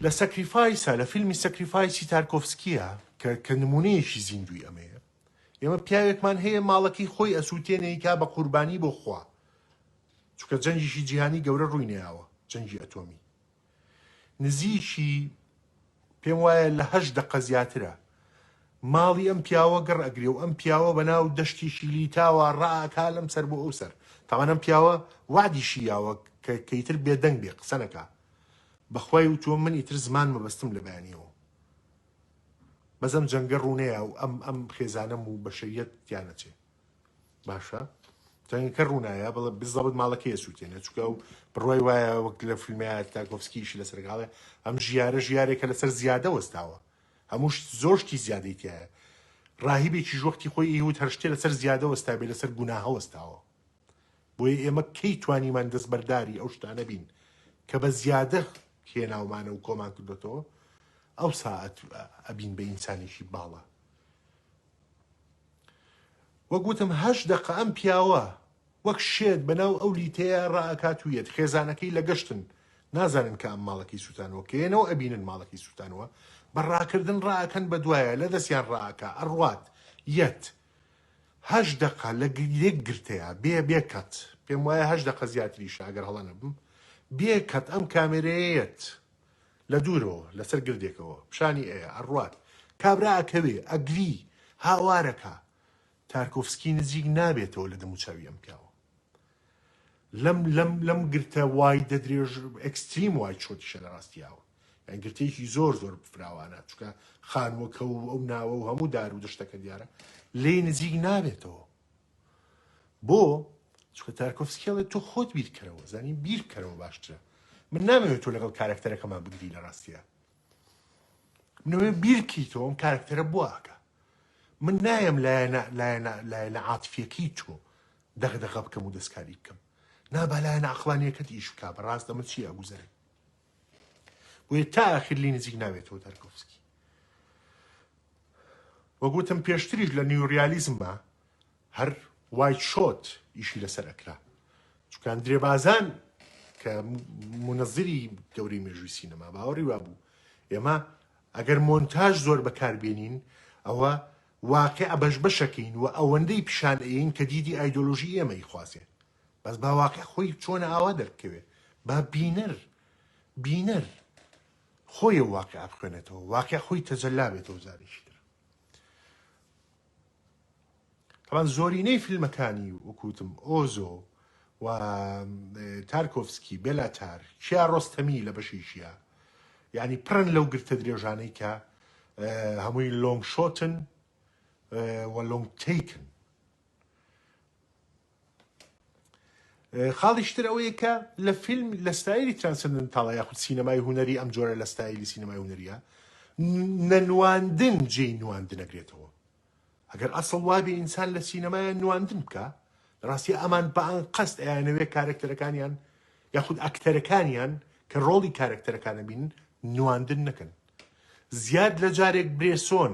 لە سەکریفایسە لە فیلمی سەکریفایسی تارکۆفسکیە کە کە نمونەیەکی زیندوی ئەمەیە ئێمە پیاوێکمان هەیە ماڵەکەی خۆی ئەسووتێنێکا بە قوربانی بۆ خوا چکە جەنگیشی جیهانی گەورە ڕووینەیەوە جەنگی ئەتۆمی نزیکی پێم وایە لە هەشت دەقە زیاترە ماڵی ئەم پیاوە گڕ ئەگرێ و ئەم پیاوە بە ناو دەشتیکی لیتاوا ڕا ئەکا لەم سەر بۆ ئەو سەر تاوان ئەم پیاوە وەعدیشی یاوە کە کە ئیتر بێدەنگ بێ قسە نەکا بەخوای وتووە من ئیتر زمان مەبەستم لە بەیانیەوە بەس ئەم جەنگە ڕوونەیە و ئەم ئەم خێزانەم و بەشەریەت تیا نەچێ. باشە تەنگە کە ڕوونایە بڵە بزەبت ماڵە کێ سووتێنێ چکە و بڕای وایە وەک لە فیلمیا تاکۆفسکیشی لەسەرگاڵێ ئەم ژیارە ژیارێکە لەسەر زیادە وەستاوە هەمووش زۆشتی زیادەی تایە ڕاهیبێکیش وەختی خۆی ئیهود هەر شتێ لەسەر زیادە وەستابێ لەسەر گوناهە وەستاوە بۆیە ئێمە کەی توانیمان دەستبەرداری ئەو شتانە بین کە بە زیادە هێناومانە و کۆمان کردوێتەوە ئەو ساعت ئەبین بە ئینسانێکی باڵە وەک وتم هەشت دەقە ئەم پیاوە وەک شێت بەناو ئەو لیتەیە رائەکات و یەت خێزانەکەی لە گەشتن نازانن کە ئەم ماڵەکەی سوتانوە کە یەنەوە ئەبینن ماڵەکەی سوتانوە بە راکردن رائەکەن بە دوایە لە دەستیان رائەکا ئەڕوات یەت هەشت دەقە لە یەک گرتەیە بێ بێ کەت پێم وایە هەشت دەقە زیاتریشە ئەگەر هەڵە نەبم بێ کەت ئەم کامێرەیە یەت لە دوورەوە لەسەر گردێکەوە پیشانی ئەیا، ئەڕوات. کابرا ئەکەوێ، ئەگری، هاوار ئەکا. تارکۆفسکی نزیک نابێتەوە لە دەموچاوی ئەم پیاوە. لەم لەم لەم گرتە وای دەدرێژ ئێکستریم وای چۆتی شە لە ڕاستی ئاوە. یان گرتەیەکی زۆر زۆر فراوانە، چونکە خانووەکە و ئەو ناوە و هەموو دار و دەشتەکە دیارە. لێی نزیک نابێتەوە. بۆ چکە تارکۆفسکی ئەڵێ تۆ خۆت بیرکەرەوە زانین بیر بکەرەوە باشترە من نامەوێت تۆ لەگەڵ کارکتەرەکەمان بگری لە ڕاستیە منەوێ بیرکی تۆ ئەم کارکتەرە بواکە من نایم لایەنە لایەنە لایەنە عاتفیەکەی تۆ دەغدەغە بکەم و دەستکاری بکەم نابالایەنە عقلانیەکەت ئیش بک بە ڕاستە من چی ئەگوزەرێ بۆیە تا ئاخیر لی نزیک ناوێتەوە دارکۆفسکی وەگوتم پێشتریش لە نیوریالیزمە هەر وای شۆت ئیشی لەسەر ئەکرا چکان درێ بازان کە منەزری گەوری مێژوی سینەما باوەڕی وا بوو ئێمە ئەگەر مۆنتاژ زۆر بەکاربێنین ئەوە واقع بەش بەشەکەین و ئەوەندەی پیشان ئەین کە دیدی ئایدۆلۆژی ئێمەی خوازێ بەس با واقع خۆی چۆنە ئاوا دەربکەوێ با بینەر بینەر خۆی و واقع بخوێنێتەوە واقع خۆی تەجەلا بێتەوە جارێکی تر طبعا زۆرینەی فیلمەکانی وکوتم ئۆزۆ و تارکۆفسکی بێلاتار کیا ڕۆستەمی لە بەشیشیە یعنی پڕن لەو گرتە درێژانەی کە هەمووی لۆنگ شۆتن و لۆنگ تیکن خاڵیش تر ئەوەیە کە لە فیلم لە ستایلی ترانسندنتاڵە یاخود سینەمای هوەری ئەم جۆرە لە ستایلی سینەمای هوەریە نەنواندن جێی نواندنەگرێتەوە ئەگەر ئەسڵ وابێ ئینسان لە سینەمایە نواندن بکە ڕاستی ئەمان بەان قەست ئەیانەوێ کارەکتەرەکانیان یاخود ئەکتەرەکانیان کە ڕۆڵی کارەکتەرەکانە بین نواندن نەکەن زیاد لە جارێک برێسۆن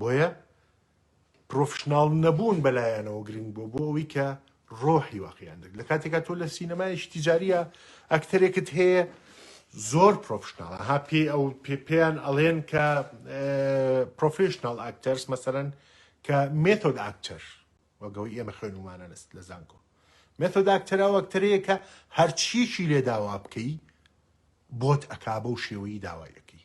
بۆیە پرۆفشناڵ نەبوون بە لایانەوە گرنگ بووە بۆ ئەوەی کە ڕۆحی واقعیان دەک لە کاتێکا تۆ لە سینەمایش تیجاریە ئەکتەرێکت هەیە زۆر پرۆفشناڵە ها پێی ئەو پێ پێیان ئەڵێن کە پرۆفشنال ئاکتەرس مەسەرەن کە مێتۆد ئاکتەر وەگەوەی ئێمە خوێنمانە لەست لە زانکۆ مێتۆد ئاکتەرا وەکتەرەیە کە هەرچیەکی لێ داوا بکەی بۆت ئەکا بەو شێوەی داوایەکەی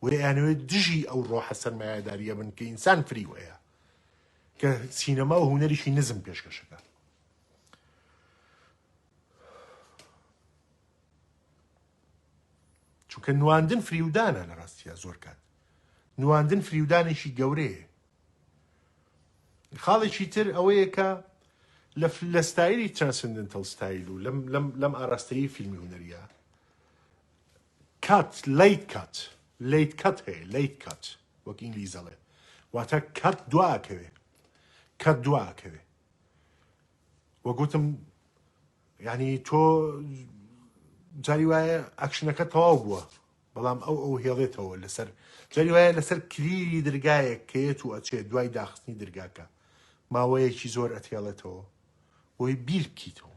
بۆیە ئەیانەوێت دژی ئەو ڕۆحە سەرمایەدارییە بن کە ئینسان فریو هەیە کە سینەما و هونەریی نزم پێشکەشەکە چونکە نواندن فریودانە لە ڕاستیە زۆر کات نواندن فریودانێکی گەورەیە خاڵێکی تر ئەوەیە کە لە ستایلی ترانسندنتەل ستایل و لەم ئاراستەیی فیلمی هونەریە کات، Late Cut، Late Cut هەیە، Late Cut وەک ئینگلیز دەڵێ واتە کەرت دوا ئەکەوێ، کەرت دوا ئەکەوێ. وە گوتم یعنی تۆ جاری وایە ئەکشنەکە تەواو بووە بەڵام ئەو ئەو هێڵێتەوە لەسەر جاری وایە لەسەر کلیلی درگایەک کەیەت و ئەچێ دوای داخستنی درگاکە ماوەیەکی زۆر ئەتێڵێتەوە بۆی بیر بکیتەوە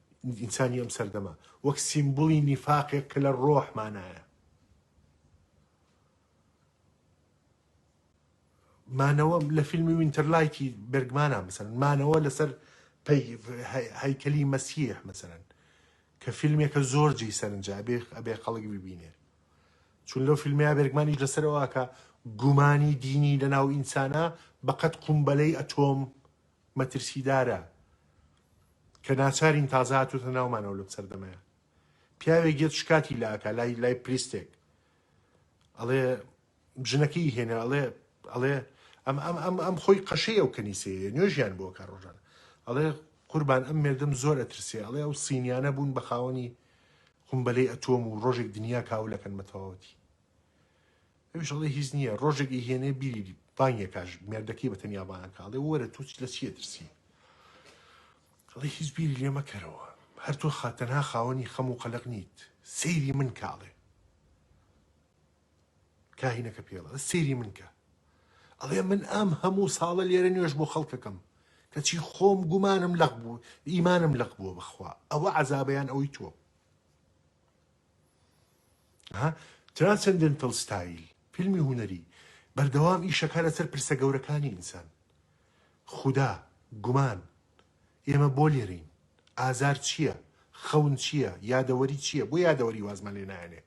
ئینسانی ئەم سەردەمە وەک سیمبولی نیفاقێک کە لە ڕۆح مانایە مانەوە لە فیلمی وینتەرلایتی بەرگمانە مەسەن مانەوە لەسەر هەیکەلی مەسیح مەسەرەن کە فیلمێکە زۆر جی سەرنجا بێ ئەبێ خەڵک ببینێ چون لەو فیلمیا بەرگمانی لەسەرەوەکە گومانی دینی لە ناو ئینسانە بەقەت قومبەلەی ئەتۆم مەترسیدارە کە ناچارین تازە هاتۆتە ناومانەوە لەم سەردەمەیا پیاوێک یەت شکاتی لە ئەکا لای لای پریستێک ئەڵێ ژنەکەی هێنا ئەڵێ ئەڵێ ئەم ئەم ئەم ئەم خۆی قەشەی ئەو کەنیسەیە نوێژیان بۆ کار ڕۆژان ئەڵێ قوربان ئەم مردم زۆر ئەترسێ ئەڵێ ئەو سینیانە بوون بە خاوەنی قمبەلەی ئەتۆم و ڕۆژێک دنیا کاولەکەن بە تەواوەتی ئەویش ئەڵێ هیچ نییە، ڕۆژێک ئەیهێنێ بیری بانگێ کاژ، مێردەکەی بە تەنیا بانگ کا، ئەڵێ وەرە تۆ لە چی ئەترسی؟ ئەڵێ هیچ بیری لێ مەکەرەوە، هەر تۆ خا تەنها خاوەنی خەم و قەلەق نیت، سەیری من کە ئەڵێ. کاهینەکە پێی ئەڵێ سەیری من کە. ئەڵێ من ئەم هەموو ساڵە لێرە نوێژ بۆ خەڵک ئەکەم، کەچی خۆم گومانم لەق بوو، ئیمانم لەق بووە بەخوا، ئەوە عەزابە یان ئەوی تۆ؟ ها ترانسندنتل ستایل فیلمی هونەری بەردەوام ئیشەکا لەسەر پرسە گەورەکانی ئینسان خودا گومان ئێمە بۆ لێرەین ئازار چییە خەون چییە یادەوەری چییە بۆ یادەوەری وازمان لێ نایەنێ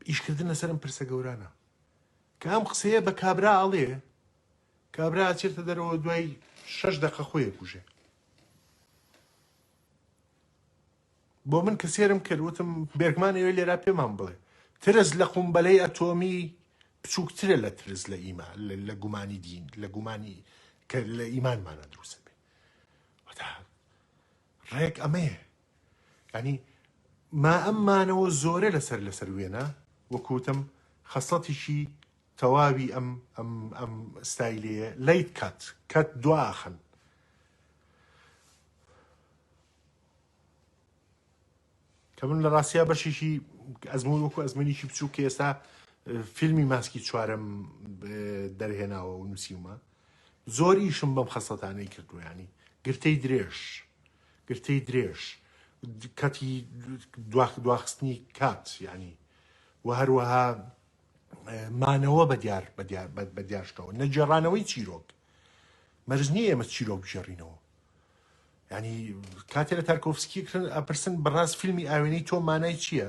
ئیشکردن لەسەرم پرسە گەورانە کە ئەم قسەیە بە کابرا ئەڵێ کابرا ئەچێتە دەرەوە دوای شەش دەقە خۆیە کوژێ بۆ من کە سێرم کرد وتم بێرگمان ئەوێ لێرا پێمان بڵێ ترس لە قومبەلەی ئەتۆمی بچووکترە لە ترس لە ئیما لە گومانی دین لە گومانی کە لە ئیمانمانە دروستە بێ ڕێک ئەمەیە ینی ما ئەممانەوە زۆرە لەسەر لەسەر وێنە وەکوتم خەسەتیشی تەواوی ئەم ئەم ئەم ستایلەیە لەیت کات کات دواخن کە من لە ڕاستیا بەشێکی ئەزمون وەکو ئەزمونێکی بچوو کە ئێستا فیلمی ماسکی چوارم دەرهێناوە و نووسیومە زۆر ئیشم بەم خەسەتانەی کردویانی گرتەی درێژ گرتەی درێژ کەتی دواخ دواخستنی کات ینی و هەروەها مانەوە بە دیار بە دیار بە دیارشتەوە نەجێڕانەوەی چیرۆک مەرج نییە ئێمە چیرۆک بگێڕینەوە ینی کاتێ لە تارکۆفسکی کرن ئەپرسن بەڕاست فیلمی ئاوێنەی تۆ مانای چییە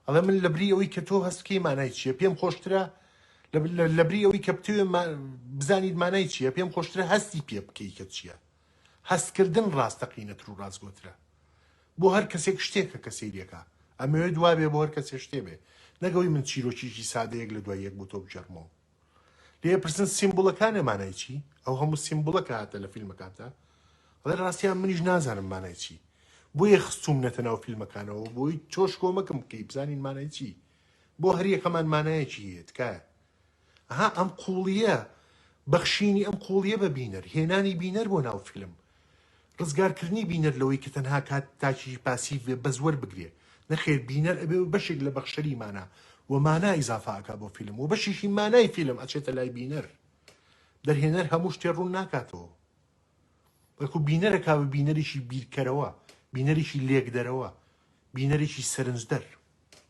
ئەڵێ من لە بری ئەوەی کە تۆ هەستکەی مانای چییە پێم خۆشترە لە بری ئەوەی کە بتوێ بزانیت مانای چییە پێم خۆشترە هەستی پێ بکەی کە چییە هەستکردن ڕاستەقینەتر و ڕاستگۆترە بۆ هەر کەسێک شتێکە کە سەیرەکە ئەمەوێت دوابێ بۆ هەر کەسێ شتێ بێ نەگەوەی من چیرۆکیی سادەیەک لە دوای یەک بۆ تۆ بگێڕمەوە لێ پرسن سیمبوڵەکانێ مانای چی ئەو هەموو سیمبوڵە کە هاتە لە فیلمەکانتا ڵێ ڕاستیان منیش نازانم مانای چی بۆیە خستوم نەتە ناو فیلمەکانەوە بۆی تۆش کۆمەکم بکەی بزانین مانای چی بۆ هەریەکەمان مانایەکی هەیە تکایە ئەها ئەم قوڵیە بەخشینی ئەم قوڵیە بە بینەر هێنانی بینەر بۆ ناو فیلم ڕزگارکردنی بینەر لەوەی کە تەنها کات تاکێکی پاسیڤ بێ بەس وەربگرێ نەخێر بینەر ئەبێ و بەشێک لە بەخشەری مانا و مانا ئیزافە ئەکا بۆ فیلم و بەشێکی مانای فیلم ئەچێتە لای بینەر دەرهێنەر هەموو شتێ ڕوون ناکاتەوە بەڵکو بینەرە کا بە بینەرێکی بیرکەرەوە بینەرێکی لێکدەرەوە بینەرێکی سەرنجدەر